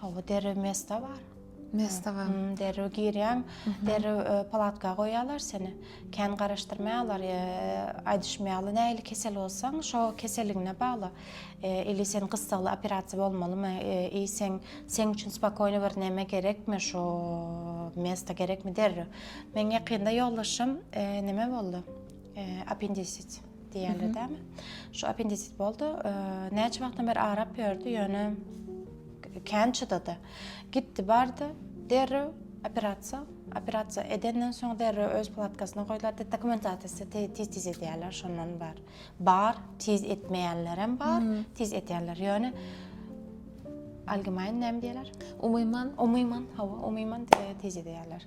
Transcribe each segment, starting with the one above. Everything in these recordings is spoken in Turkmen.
Hawa derrew mesta bar. Mesta bar. Hmm, derrew girýäň, derrew e, palatga goýýarlar seni. Kän garaşdyrmaýarlar, e, aýdyşmaýarlar nähili kesel bolsaň, şo keseligiňe bagly. E, ili sen gyssagly operasiýa bolmalymy, e, i sen seň üçin spokojny bir näme gerekmi, şo mesta gerekmi derrew. Meň ýakynda ýoldaşym e, näme boldy? E, appendisit. diýerler dämi. Şu appendisit boldy. Näçe wagtdan beri arap ýördi, ýöne kän çydady. Gitdi, bardy, derrew operasiýa. Operasiýa edenden soň derrew öz palatkasyna goýlardy. Dokumentasiýasy tiz-tiz edýärler, şondan bar. Bar, tiz etmeýänler hem bar, tiz edýänler. Ýöne allgemein näme diýerler? Umyman. Umyman, hawa, umyman tiz edýärler.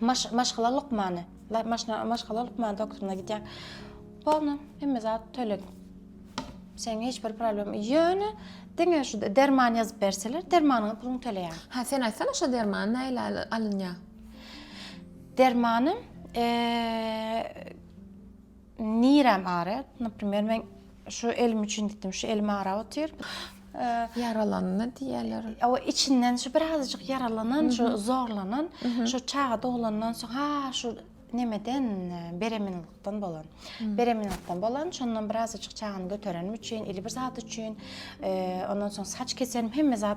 Maş, maşgala lukmany. Maşna, maşgala lukmany doktoruna gidýär. Bolna, hemme zat töleg. Sen hiç bir problem. Ýöne diňe şu derman ýazyp berseler, dermanyňa puluň töleýär. Ha, sen aýtsana şu derman näle alynýar? Dermany, eee Nirem aryat, naprimer men şu elim üçin gitdim, şu elim arap otyr. Ýaralandy diýerler. Ow içinden şu birazajyk ýaralanan, şu zorlanan, şu çaga doglandan soň ha şu nemeden bereminlikden bolan. Bereminlikden bolan, şondan birazajyk çagany göterenim üçin, ili bir zat üçin, ondan soň saç keserim, hemme zat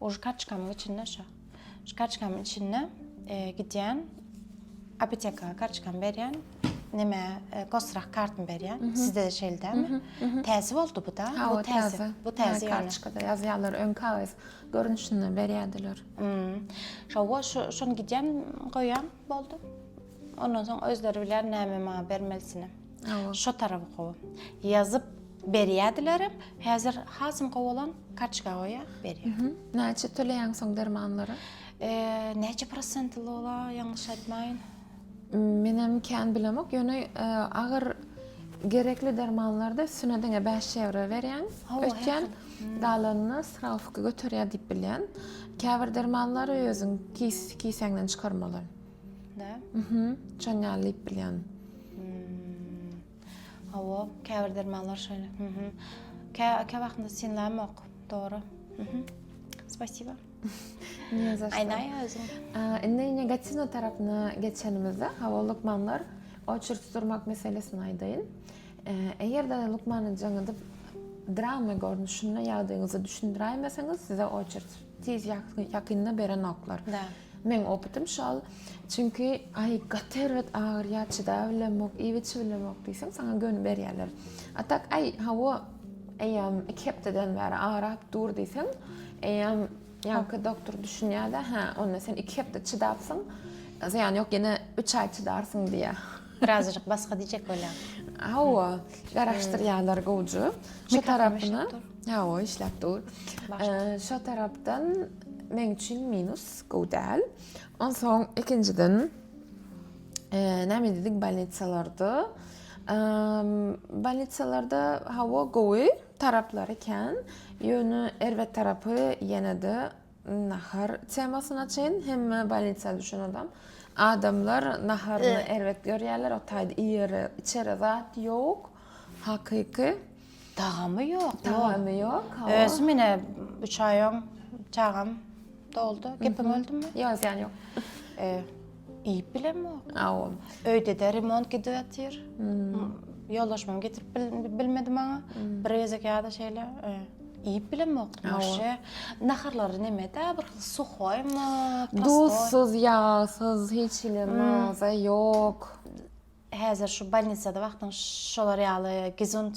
O şkaçkamyň içinde şo. Şkaçkamyň içinde gidýän apoteka karçkamy berýän. Neme gosrak kartymy berýän. Sizde de şeýle dämi? Täze boldy bu da. Bu täze. Bu täze karçkada ýazýarlar öň kagyz görnüşinde berýärdiler. Şo şony gidýän goýýan boldy. Ondan soň özleri bilýär näme maňa bermelisini. Şo tarapy gowy. Ýazyp berýärdilerem. Häzir hasam gowy bolan kartoçka goýýar, berýär. Näçe töleýäň soň dermanlara? Näçe prosentli ola, ýalňyş aýtmaýyn? Menem kän bilemok, ýöne agyr gerekli dermanlarda üstüne diňe 5 ýewro berýän. Ötýän galanyny srawka göterýär diýip bilýän. Käbir dermanlary özüň kisäňden çykarmaly. Da? Mhm. Şon ýaly diýip bilýän. Hmm. Hawa, käbir dermanlar şeýle. Mhm. Kä kä wagtynda synlamok. Dogry. Mhm. Spasiba. Ne za. Aýnaý özüň. Indi negatiwna tarapyna geçenimizde, hawa lukmanlar oçer tuturmak meselesini aýdaýyn. Eger-de lukmanyň jaňydyp drama görnüşinde ýagdaýyňyzy düşündiräýmeseňiz, size oçer Tiz ýakynda beren oklar. Da. Meň opytym şol. Çünki ay gaty erbet agyrýar çydabilemok, iýip içibilemok diýseň saňa göni berýärler. A tak ay hawa eýýäm 2 hepdeden bäri agyrap dur diýseň eýýäm ýaňky doktor düşünýärde hä onda sen 2 hepde çydapsyň zyýany ýok ýene 3 ay çydarsyň diýýär. Birazajyk basga diýjek bolýar. Hawa garaşdyrýarlar gowja şu tarapyna. Hawa, işläp dur. Şo tarapdan meň üçin minus gowy däl. Onsoň ikinjiden näme diýdik bolnitsalarda? Bolnitsalarda hawa gowy taraplary kän. Ýöne erbet tarapy ýene-de nahar temasyna çyn hemme bolnitsa düşen adam. Adamlar naharyny erbet görýärler, o taýda iýere, içere zat ýok. Hakyky. Tagamy ýok. Tagamy ýok. Özüm ine 3 aý öň çagam doldy. Gepim öldüm. Ýok, ýan ýok. Eee, iýip bilem ýok. Aw. Öýde de remont gidip ýatyr. Ýoldaşymam getirip bilmedi maňa. Bir gezek ýa-da şeýle, eee, iýip bilem ýok. Maşa. Naharlary näme-de, bir hil suhoýmy, prostoý. Duzsuz, ýagsyz, hiç hili maza ýok. Häzir şu bolnisada wagtyň şolar ýaly gezunt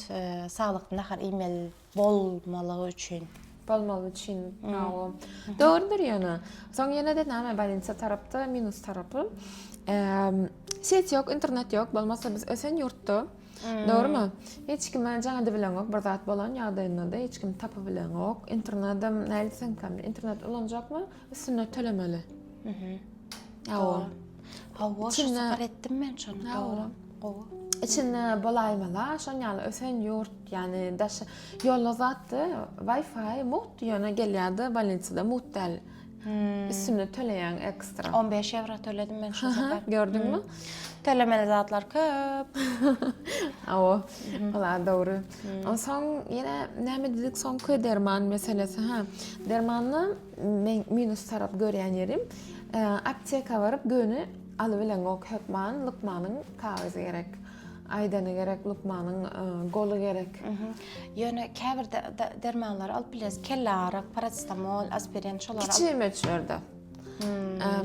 saglykly nahar iýmeli bolmalygy üçin. Bolmaly üçin hawa. Dogrudyr ýöne. Soň ýene-de näme bolnisa tarapda minus tarapy. Set ýok, internet ýok. Bolmasa biz ösen ýurtda. Dogrumy? Hiç kime jaň edibileňok bir zat bolan ýagdaýynda-da hiç kim tapybileňok. Internedem nädip sen internet ulanjakmy? Üstüne tölemeli. Mhm. Awa. Awa, şu safar etdim men şonu. Awa. Gowy. İçinde bolaýmala, şon ýaly ösen ýurt, ýani daş ýolda zatdy, Wi-Fi mugt ýöne gelýärdi, bolnitsada mugt däl. Hmm. Üstüne töleýän ekstra. 15 ýewro töledim men şu safar. Gördüňmi? Hmm. Tölemeli zatlar köp. Awa. Mhm. Ola dogry. Hmm. Onsoň ýene näme diýdik, soňky derman meselesi, ha. Dermanny Meň minus tarap görýän ýerim apteka baryp göni alybileňok hökman lukmanyň kagyzy gerek aýdany gerek lukmanyň goly gerek. Ýöne käbir dermanlary alyp bilýäs kelle aryk paracetamol aspirin şolary alyp. Kiçi möçberde.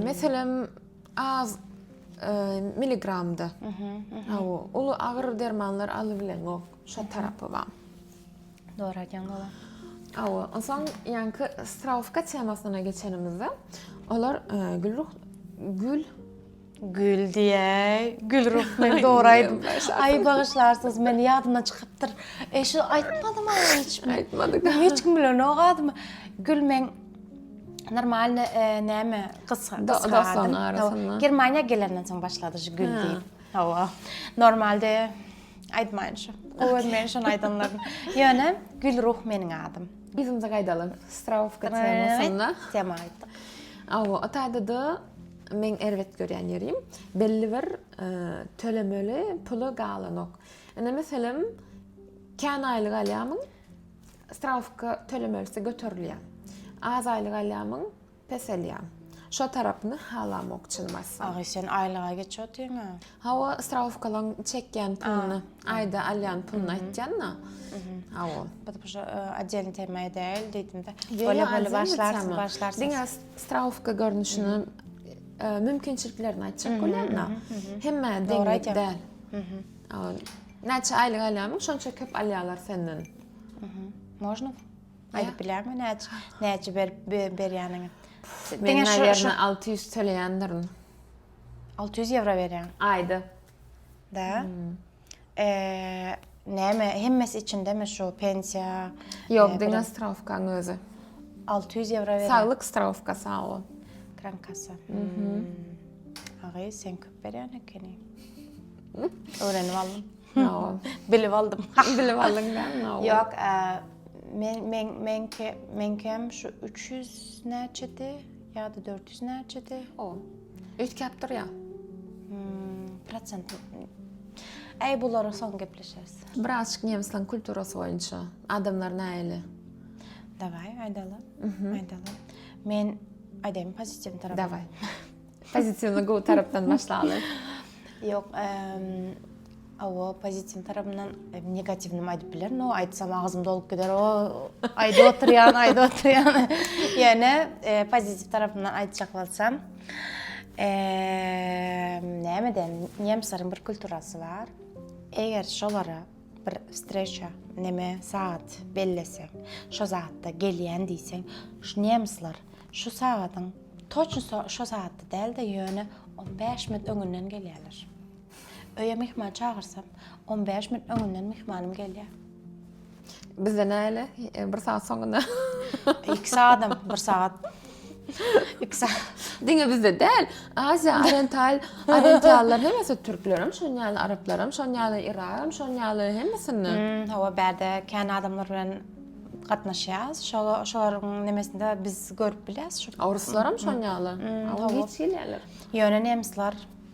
Meselem az miligramda. Uly agyr dermanlar alybileňok şo tarapy bar. Dogry aýdýaň baba. Awa, onsoň ýaňky straufka temasyna geçenimizde, olar e, Gülruh Gül Gül diýäý, Gülruh men dogry aýdym. Aý bagyşlarsyňyz, men ýadymdan çykypdyr. E şu aýtmadym aý hiç. Aýtmadyk. Hiç kim bilen o gadymy. Gül men normalny e, näme gysga gysga. Germaniýa gelenden soň başlady şu gül diýip. Hawa. Normalde Aýtmaýynça. Gowy görmeýän şony aýdanlaryny. Ýöne Gülruh meniň adym. Yzymyza gaýdalyň. Strawka temasynda. Tema aýtdyk. Awa, o taýda-da meň erbet görýän ýerim, belli bir tölemeli puly galanok. Indi meselem, kän aýlyk alýarmyň, strawka tölemelisi göterilýär. Az aýlyk alýarmyň, Peselýän. Şo tarapyny halamok çynmazsan. Agy sen aýlyga geç otyňa. Hawa strawkalaň çekýän puluny, aýda alýan puluny aýtýanda. Hawa. Biz bu aden tema edäýeli diýdimde. Bole bole başlarsyň, başlarsyň. Diňe strawka görnüşini mümkinçiliklerini aýtjak bolýanda. Hemme deňlik däl. Näçe aýlyk alýanyň şonça köp alýarlar senden. Можно? Aýdyp bilermi näçe näçe berip berýäniňi? Diňe şu 600 töleýändirin. 600 ýewro berýän. Aýda. Da. Hmm. Eee näme hemmesi içindemi şu pensiýa? Ýok, diňe strawkaň özi. 600 ýewro berýän. Saglyk strawka sag ol. Krankasa. Mhm. Agy sen köp berýän ekeni. Öwrenip aldym. Naol. Bilip aldym. Bilip aldyň da Naol. Ýok, men men menki menkem şu 300 näçedi ýa-da 400 näçedi? O. Ötkäp durýa. Hmm, prosent. Äý, bulary soň gepleşeris. Biraz nemisleň kulturasy boýunça adamlar näýeli? Dawai, aýdaly. Aýdaly. Men aýdaýmy pozitiw tarapy? Dawai. Pozitiwyny gowy tarapdan başlaly. Ýok, awa pozitiw tarapyndan negatiwini aýdyp bilerin. O aýtsam agzym dolup gider. O aýdyp oturýan, aýdyp oturýan. Ýöne pozitiw tarapyndan aýtjak bolsam, eee, nämeden? Nemsleriň bir kulturasy bar. Eger şolara Bir wstreça, neme, sagat bellese, şo zatda gelýän diýseň, şu nemsler şu sagadyň toçny şo sagatda däl-de, ýöne on bäş minut öňünden gelýärler. Öýe myhman çagyrsam, on bäş minut öňünden myhmanym gelýär. Bizde näle? Bir sagat soňundan. Iki sagatam, bir sagat. Ikisi diňe bizde däl. Aziýa, oriental, orientallar hemmesi türklerim, şoň ýaly araplaram, şoň ýaly iraram, şoň ýaly hemmesinde. Hmm, hawa, bärde kän adamlar bilen gatnaşýas. Şoňa şolaryň nemesinde biz görüp bilýäs. Şu oruslar hem şoň ýaly. Hawa, hiç gelýärler. Ýöne nemsler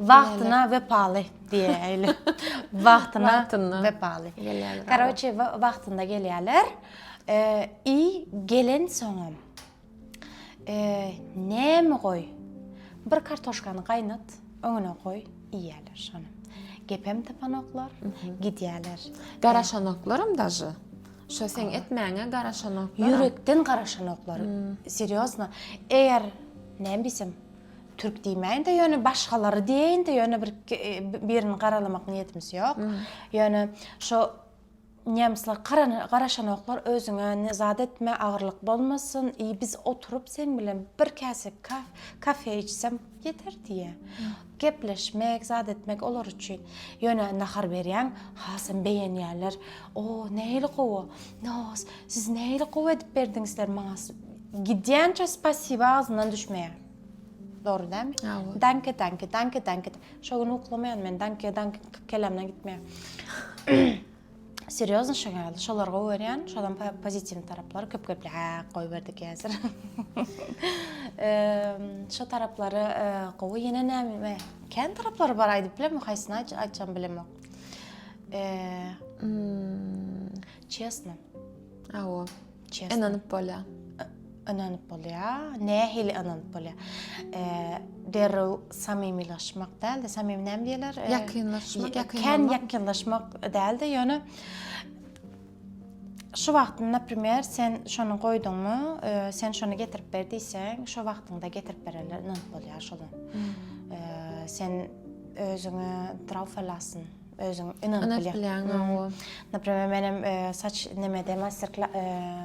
Wagtyna wepaly diýäýeli. Wagtyna wepaly. Karoçe wagtynda gelýärler. I gelen soňam. Näme goý. Bir kartoşkany gaýnat, öňüne goý, iýýärler şony. Gepem tapanoklar, gidýärler. Garaşanoklarym daže. Şo seň etmäňe garaşanoklar. Ýürekden garaşanoklar. Serýozno. Eger näme diýsem, Türk diýmäýin-de, ýöne başgalary diýeýin-de, ýöne bir birini garalamak niýetimiz ýok. Ýöne şo Nemsler garaşanoklar özüňe ne zat etme, agyrlyk bolmasyn, i biz oturyp sen bilen bir käse kafe içsem ýeter diýýä. Gepleşmek, zat etmek olar üçin. Ýöne nahar berýäň, hasam beýenýärler. O, nähili gowy. Nos, siz nähili gowy edip berdiňizler maňa. Gidýänçä spasiba agzyndan düşmeýär. Dogry dälmi? Danke, danke, danke, danke. Şo gün uklamaýan men danke, danke kelamdan gitmeýär. Serýozny şo geldi. Şolar gowy görýän, şodan pozitiw taraplary köp gepli. Hä, goýberdik häzir. Şo taraplary gowy ýene näme? Kän taraplary bar aýdyp bilemok, haýsyny aýtjam bilemok. Eee. Çesno. Aw. Ynanyp bolýar. Ynanyp bolýar. Nähili ynanyp bolýar? Derrew samymylaşmak däl-de, samymy näme diýerler? Ýakynlaşmak, ýakyn. Kän ýakynlaşmak däl-de, ýöne şu wagtynda, naprimer, sen şony goýduňmy, sen şony getirip ber diýseň, şu wagtynda getirip bererler, ynanyp bolýar şolar. Sen özüňe draw falasyn. Özüň ynanyp bilýäň. Naprimer, menem saç nemede master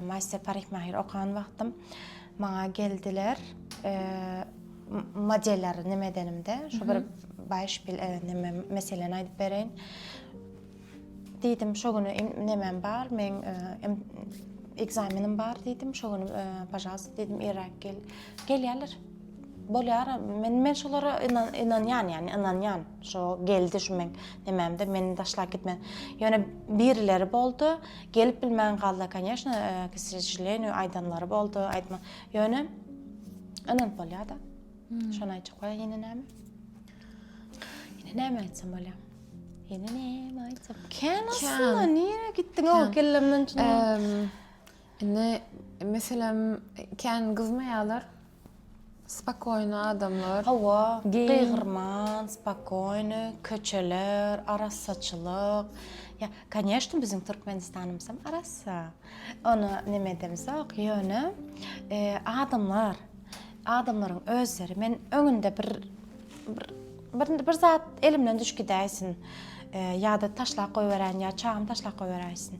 master parikmahir okan wagtym maňa geldiler. Modeller nemedenimde, şu bir beispil neme meseleni aýdyp bereýin. Diýdim, şo gün nemem bar, meň ekzamenim bar diýdim. Şo gün pažalst diýdim, irräk gel. Gelýärler. Bolýar, men men şolara ynanýan ýagny ynanýan. Şo geldi şu meň nemämde meni taşlap gitmedi. Ýöne birileri boldy, gelip bilmän galdy, konýeşno, k sreželenýu, aýdanlary boldy, aýtma. Ýöne ynanyp bolýar-da. Şony aýtjak bolýar, ýene näme? Ýene näme aýtsam bolýar? Ýene näme aýtsam? Kän aslynda, nirä gitdiň-ow kellemden çyny? Indi meselem kän gyzmaýalar. Spokoýny adamlar. Hawa, gygyrman, spokoýny, köçeler, arassaçylyk. Ýa, koneşno, biziň Türkmenistanymyzam arassa. Ony neme edemizok, ýöne adamlar, adamlaryň özleri. Men öňünde bir bir bir zat elimden düşüp gidäýsin, ýa-da taşlap goýberän, ýa çagam taşlap goýberäýsin.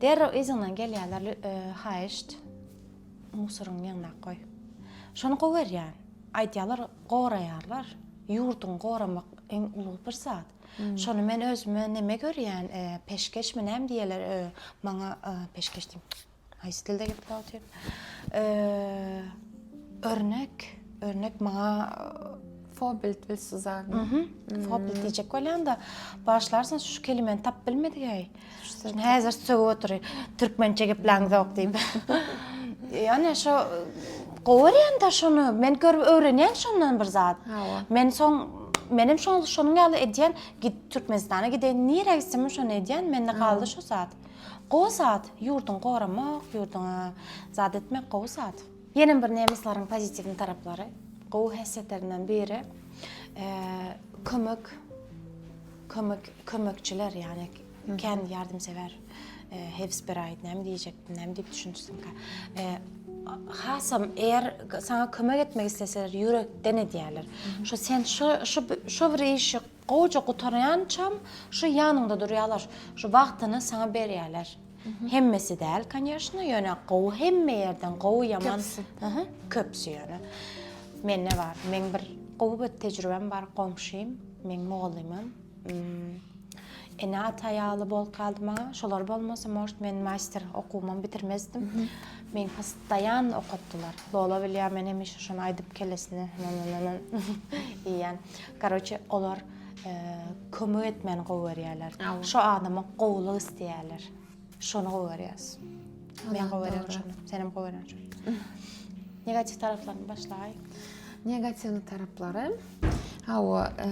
Derrew yzyňdan gelýäler haýyşt musoryňy ýygnap goý. Şony gowerýän. Aýdýalar goraýarlar. Ýurduňy goramak iň uly bir zat. Şony men özüme neme görýän, peşgeşmi näme diýýäler, maňa peşgeş diýip, haýsy dilde gepläp otyryn. Örnek, örnek maňa Fobilt bil Suzan. Mhm. Fobilt diyecek bolyan da başlarsın şu kelimeni tap bilmedi gay. Şimdi hazır sögü oturuyor. Türkmençe gepleň zok deyip. Yani şu Govar yani da şunu. Men görüp öğreniyen şundan bir zat. Men son menem şol şonuň ýaly edýän git Türkmenistana gideýin nirä gitsem şony edýän mende galdy şu zat. Gowy zat, ýurduňy goramak, ýurduňa zat etmek gowy zat. Ýene bir nemisleriň pozitiwny taraplary, gowy häsiýetlerinden biri kömek kömek kömekçiler ýagny kän ýardymsewer hewsberaýt näme diýjekdim näme diýip düşünjüsinkä hasam eger sana kömek etmek isleseler ýürekden edýärler. Şu sen şu şu şu bir işi Gowja gutarýançam şu ýanyňda durýalar, şu wagtyny saňa berýäler. Hemmesi däl, konýeşno, ýöne gowy hemme ýerden gowy ýaman, ahy, köpsi ýöne. Mende bar, meň bir gowy bir tejribem bar, goňşym, meň mugallymym, ene-ata ýaly bolup galdy maňa. Şolar bolmasa, может, men master okuwymam bitirmezdim. Meni postoýan okatdylar. Lola bilýär, men hemişe şony aýdyp kellesine, na-na-na-na, iýýän. Karoçe olar kömek etmeni gowy görýärler. Şo adama gowulyk isleýärler. Şony gowy görýäs. Men gowy görýän şony. Sen hem gowy görýän şony. Negatiw taraplaryny başlaý. Negatiw taraplary Hawa, e,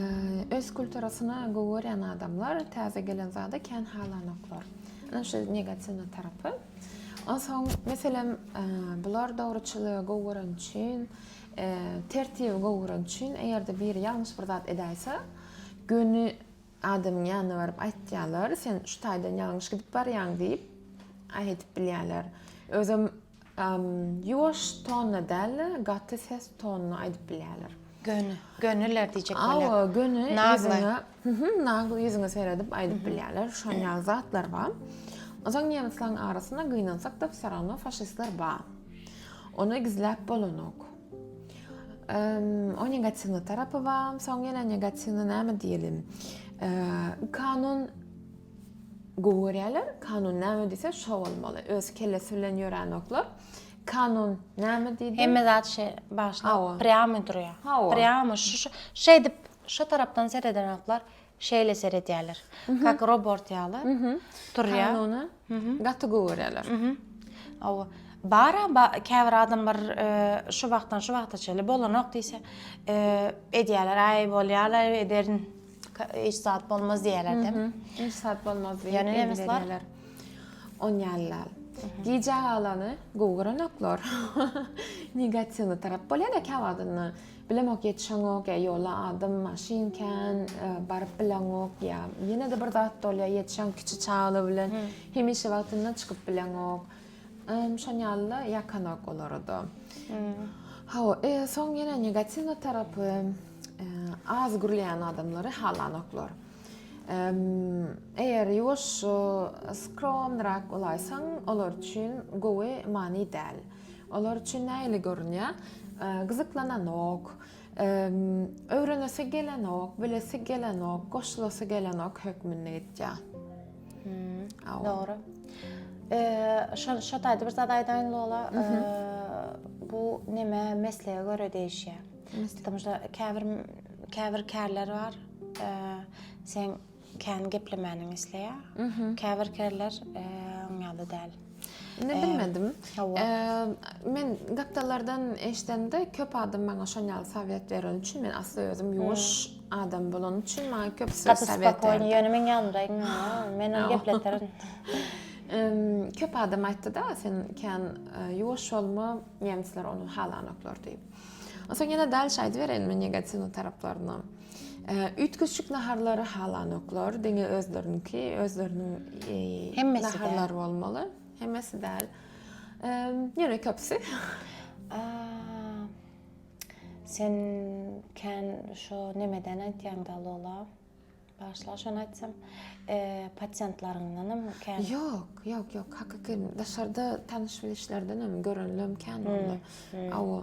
öz kulturasyna gowy görýän adamlar täze gelen zada kän halanoklar. Ana şu negatiw tarapy. Onsoň, meselem, e, bular dogruçylygy gowy gören üçin Tertibi gowrak üçin eger-de biri ýalňyş bir zat edäýse, göni adamyň ýanyna baryp aýtýarlar, sen şu taýdan ýalňyş gidip barýaň diýip, aýdip bilýärler. Özem ýuwaş tonna däl-de, gaty ses tonuna aýdyp bilýärler. Göni, göniler diýjek bolýar. Hawa, göni, ýüzüňe. Hühüm, nag ýüzüňe seredip aýdyp bilýärler, şon ýaly zatlar ba. Ozan nemisleň arasynda gynansak da psarowno faşistler ba. Ony gizläp bolanok. O negativny tarapy ba, soň ýene negativny näme diýelim? Kanun gowy görýärler. Kanun näme diýse, şo bolmaly. Öz kellesi bilen ýöränoklar. Kanun näme diýdi? Hemme zat şe başda prýamy durýar. Prýamy şu şeýdip Şu tarapdan seredenaklar şeýle seredýärler. Kak robort ýaly turýar. Kanuna gaty gowy görýärler. Hawa. Bara käbir adamlar şu wagtdan şu wagta çenli bolanok diýse, edýärler, aý bolýar-laý ederin. Hiç zat bolmaz diýýärler-de. Hiç zat bolmaz diýip. Ýöne nemesler on ýalylar. Gijä galany gowy görenoklar. Negatiwny tarap bolýar-da käwagtynda. Bilemok ýetişeňok ýa ýola adam maşyn kän baryp bileňok ýa ýene-de bir zat bolýar ýetişeň kiçi çagly bilen hemişe wagtyndan çykyp bileňok. Şon ýaly ýakanok olarda. Hawa, e, soň ýene negatiwny tarapy az gürleýän adamlary halanoklar. Eger ýuwaş, skromnyrak bolaýsaň, olar üçin gowy many däl. Olar üçin nähili görünýär? Gyzyklananok, öwrenesi gelenok, bilesi gelenok, goşulasy gelenok hökmünde gidýär. Dogry. Şol şo taýda bir zat aýdaýyn Lola. Bu näme meslege görä degişýär. Käbir käbir kärler bar. Sen Kän geplemäniňi isleýär. Käbir kerler oň ýaly däl. Ne bilmedim. Men gapdallardan eşdende köp adam maňa şoň ýaly sowet beren üçin men asly özüm ýuwaş adam bolan üçin maňa köp sowet. Gaty spokojny ýöne men ýalňyraýyn men ony gepleterin. Köp adam aýtdy-da sen kän ýuwaş bolma nemsler ony halanoklar diýip. Onsoň ýene dälşe aýdybereýinmi negatyw taraplaryny. Üýtgeşik naharlary halanoklar, diňe özleriniňki, özleriniň naharlary bolmaly. Hemmesi däl. Ýöne köpüsi. Sen kän şu nemeden aýtýaňda Lola? Başla şony aýtsam, pasiýentlaryňdanam kän. Ýok, ýok, ýok. Hakyky daşarda tanyş-bilişlerdenem görenlem kän onda. Aw,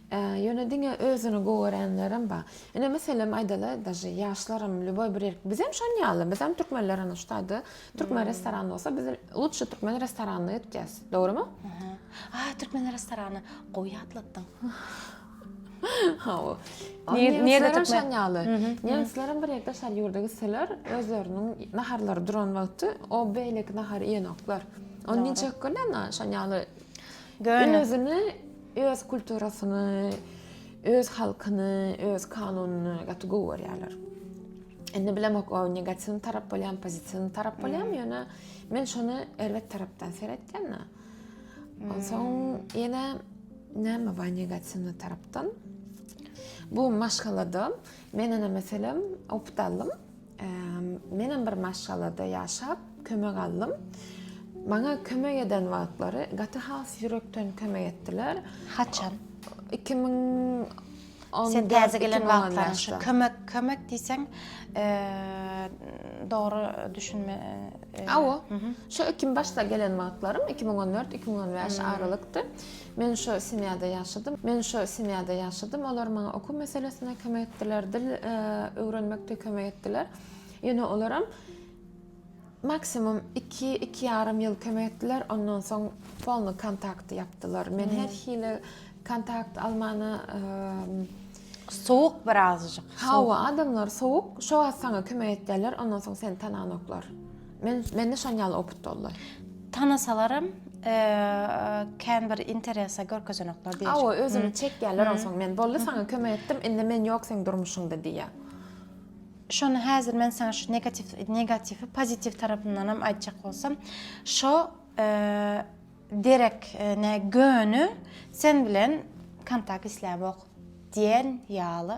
Ä, ýöne diňe özüni gowy görenlerem bar. Ine, meselem, aýdaly, daže ýaşlaram, lýuboý bir ýerki, bizem şon ýaly, bizem türkmenler, ana, şu taýda türkmen restorany bolsa, biz lutşy türkmen restoranyna gitjäs. Dogrymy? Aha. A, türkmen restorany, gowy ýatlatdyň. Hawa. Nir, nirede türkmen? Şon ýaly. Nemslerem bir ýerde şar ýurda gitseler, özleriniň naharlary duran wagty, o beýleki nahary iýenoklar. Ony niçik göni, ana, şon ýaly. Göni. Özüni Öz kulturasyny, öz halkyny, öz kanunyny gaty gowy görýärler. Indi bilemok o negativ tarap bolýan, pozitiw tarap bolýan, ýöne men şony erbet tarapdan seretdim. Onsoň ýene näme bar negativ tarapdan? Bu maşgalada men ene meselem opdalym. Menem bir maşgalada ýaşap, kömek aldym. Maňa kömek eden wagtlary gaty has ýürekden kömek etdiler. Haçan? 2000 Sen täze gelen wagtlaryň şu kömek kömek diýseň, dogry düşünme. Awa. Şu 2000 başda gelen wagtlarym 2014-2015 aralykdy. Men şo semýada ýaşadym. Men şo semýada ýaşadym. Olar maňa okuw meselesinde kömek etdiler, dil öwrenmekde kömek etdiler. Ýöne olaram maksimum iki, iki ýarym ýyl kömek etdiler. Ondan soň polny kontakt ýapdylar. Men her hili kontakt almana sowuk birazjyk. Hawa, adamlar sowuk. Şo wagt saňa kömek etdiler, ondan soň seni tananoklar. Men mende şon ýaly opyt boldy. Tanasalaram kän bir interesa görkezenoklar diýýär. Awa özüni hmm. çekýärler hmm. onsoň men boldy hmm. saňa kömek etdim indi men ýok seň durmuşyňda diýýär. Şony häzir men saňa şu negatiw negatiwi pozitiw tarapyndan hem aýtjak bolsam şo derek ne göni sen bilen kontakt isläp ok diýen ýaly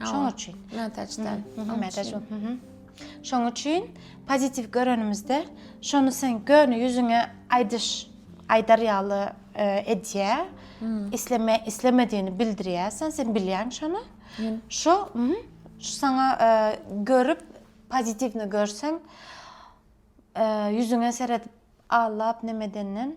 Şoň üçin. Mätäçden. Mätäç. Şoň üçin pozitiw görenimizde şony sen göni ýüzüňe aýdyş aýdar ýaly e, edýä. Isleme islemediğini bildirýärsen, sen bilýän şony. Şu şu sana e, görüp pozitivni görsen e, ýüzüňe seredip ağlap nemedenden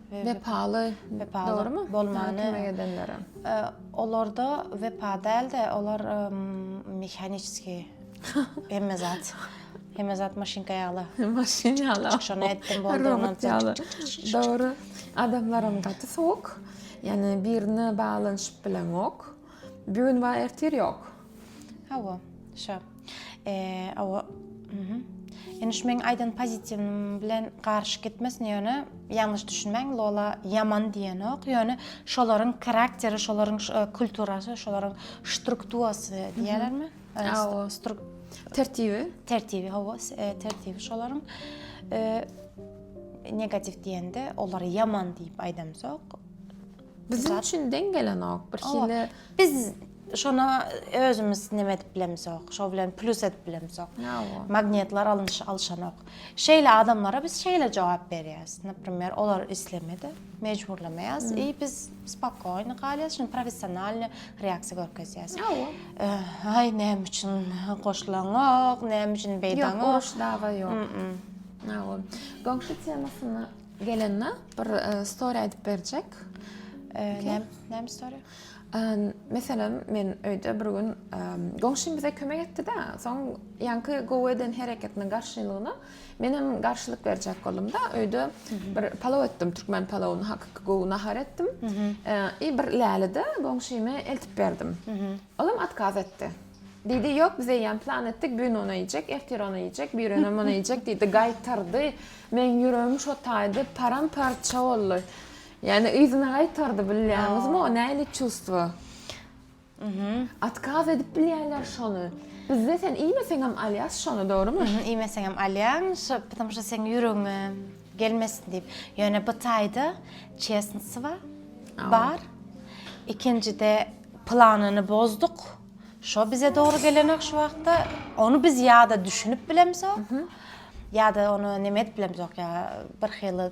Wepaly, dogrumy? Kömek edenlere. Olarda wepa däl-de, olar mehaniçeskiý hemme zat. Hemme zat maşynka ýaly. Maşyn ýaly. Şony etdim, boldy. Robot ýaly. Dogry. Adamlaram gaty sowuk. Ýani birine baglanyşyp bileňok. Bir gün bar, ertir ýok. Hawa, şa. Eee, hawa. Mhm. Indi şu meň aýdan pozitiwim bilen garşy gitmesin, ýöne ýalňyş düşünmäň, Lola ýaman diýenok, ýöne şolaryň karakteri, şolaryň e, kulturasy, şolaryň struktuasy diýerlermi? E, Hawa, struk tertibi. tertibi, hawa, s- e, tertibi şolaryň e, negatiw diýende olary ýaman diýip aýdamzok. Biziň üçin deň gelenok. Bir Hawa. hili Biz Şona özümiz neme edip bilemizok, şo bilen plus edip bilemizok. Magnetler alynş alşanok. Şeýle adamlara biz şeýle jogap berýäs. Naprimer, olar islemedi, mejburlamaýas i biz spokojny galýas, şuny professionalny reaksiýa görkezýäs. Aý, näme üçin goşulaňok, näme üçin beýdaňok? Ýok, uruş dawa ýok. Aý, goňşy temasyna gelende bir story aýdyp berjek. Näme story? Meselem, men öýde bir gün goňşym bize kömek etdi-de, soň ýaňky gowy eden hereketiniň garşylygyna menem garşylyk berjek boldum-da, öýde bir palaw etdim, türkmen palawyny, hakyky gowy nahar etdim. I bir läle-de goňşyma eltip berdim. Olam otkaz etdi. Diýdi, ýok, biz eýýäm plan etdik, bu gün ony iýjek, ertir ony iýjek, birönem ony iýjek diýdi, gaýtardy. Meň ýüregim şo taýda param-parça boldy. Ýani yzyna gaýtardy bilýäňizmi o näli çuvstwo. Mhm. Otkaz edip bilýärler şony. Bizde sen iýmeseňem alýas şony dogrymy? Mhm iýmeseňem alýaň şo ptam şo seň ýüregiňe gelmesin diýip. Ýöne bu taýda çesnswa bar. Ikinjide planyny bozduk. Şo bize dogry gelenok şu wagtda. Ony biz ýa-da düşünip bilemzok. Ýa-da ony neme edip bilemzok ýa birhili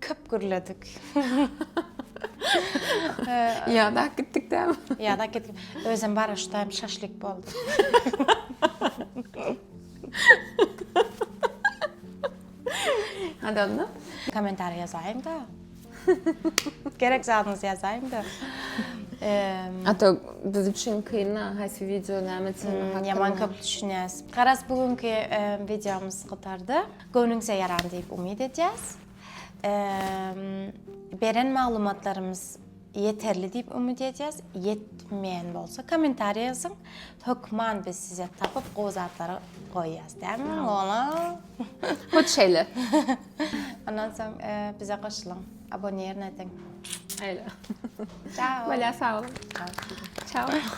Köp gürledik. Ýada gitdik däm. Ýada gitdik. Özüm baraşdaýym şaşlik boldy. Hadi onda. Komentar ýazaýyň da. Gerek zadyňyzy ýazaýyň da. Ata biz üçin kynla haýsy wideo näme üçin? Ýaman köp düşünýäs. Garaz bu günki wideomyz gutardy. Göwnüňize ýaran diýip umyt edýäs. Beren maglumatlarymyz ýeterli diýip umyt edýäs. Ýetmeýän bolsa kommentariýa ýazyň. Hökman biz size tapyp gowy zatlary goýýas. Dämi olam? Hut şeýle. Ondan soň bize goşulyň. Abonirn ediň. Aýla. Çao. Bolýa sag boluň. Çao.